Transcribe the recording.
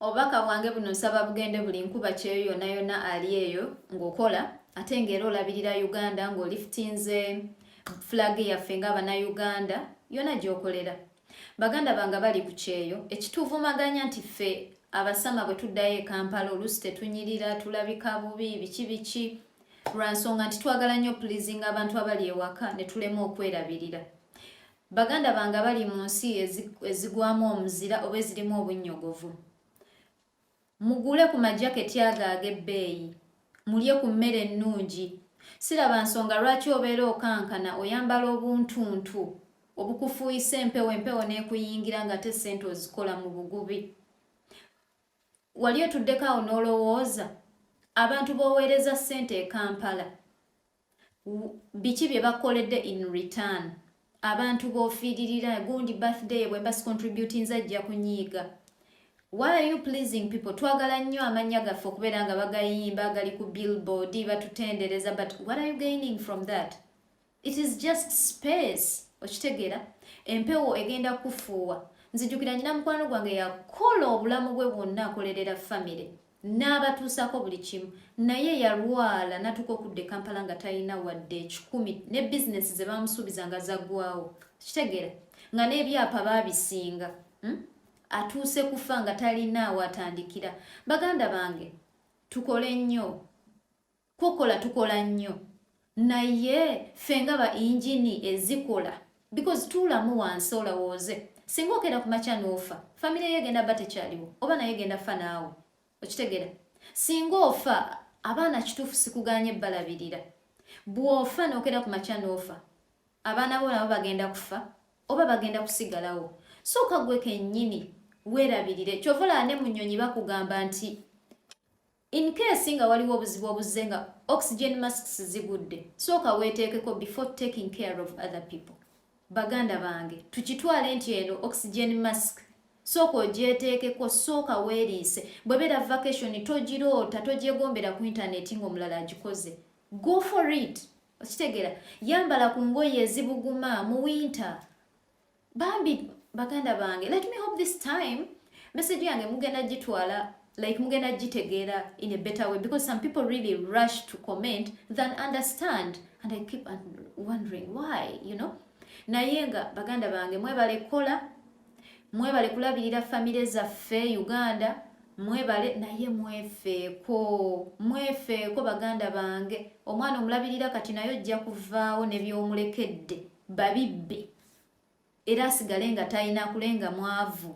obubaka bwange buno nsaba bugende buli nkuba kyeyo yona yona ali eyo ng'okola ate ng'era olabirira uganda ng'olifitinze flag yaffe ng'abanauganda yona gyokolera baganda bange bali ku kyeyo ekituvumaganya nti ffe abasama bwe tuddayo e kampala oluusi tetunyirira tulabika bubi biki biki lwa nsonga nti twagala nnyo pulizinga abantu abali ewaka ne tulema okwerabirira Baganda bange abali mu nsi ezigwamu omuzira oba ezirimu obunnyogovu, mugule ku majaketi ago ag'ebbeeyi, mulye ku mmere ennungi. Siraba nsonga lwaki obeera okankana oyambala obuntuntu obukufuuyisa empewo empewo n'ekuyingira ng'ate ssente ozikola mu bugubi. Wali otuddeko awo n'olowooza abantu b'oweereza ssente e Kampala biki bye bakoledde in return abantu bofiiririra gundi birthday bwe mba sicontributing zajja kunyiiga why are you pleasing people twagala nnyo amannya gaffe okubeera nga bagayimba gali ku billboard batutendereza but what are you gaining from that it is just space okitegeera empewo egenda kufuuwa nzijukira nyina mukwano gwange yakola obulamu bwe bwonna akolerera famire n'abatuusako buli kimu naye yalwala natuka okudda e kampala nga talina wadde ekikumi ne bizinesi ze bamusuubiza nga zaggwawo kitegeera nga n'ebyapa baabisinga hmm? atuuse kufa nga talina awatandikira baganda bange tukole nnyo Kukola tukola nnyo naye ffe nga ba injini ezikola because tuulamu wansi olawooze singa okera ku makya n'ofa famire yo egenda ba tekyaliwo oba naye egenda fa naawe okitegera singa ofa abaana kituufu sikuganye balabirira bw'ofa n'okera ku makya n'ofa abaana bo nabo bagenda kufa oba bagenda kusigalawo sooka gwe kennyini weerabirire kyovulaa ne mu nnyonyi bakugamba nti In case nga waliwo obuzibu obuzze nga oxygen masks zigudde, sooka weeteekeko before taking care of other people. Baganda bange, tukitwale nti eno oxygen mask sooka ogyeteekeko, sooka weeriise. Bwebeera vacation togiroota, togyegombera ku intaneti ng'omulala agikoze. Go for it! Okitegera, yambala ku ngoye ezibuguma mu winter. bambi baganda bange let me hope this time message yange mugenda gitwala like mugenda gitegeera in a better way because some people really rush to comment than understand and i keep wondering why you know naye nga baganda bange mwebale kukola mwebale kulabirira famire zaffe uganda mwebale naye mwefeeko mwefeeko baganda bange omwana omulabirira kati naye ojja kuvaawo nebyomulekedde babibbe era asigale nga talina kule nga mwavu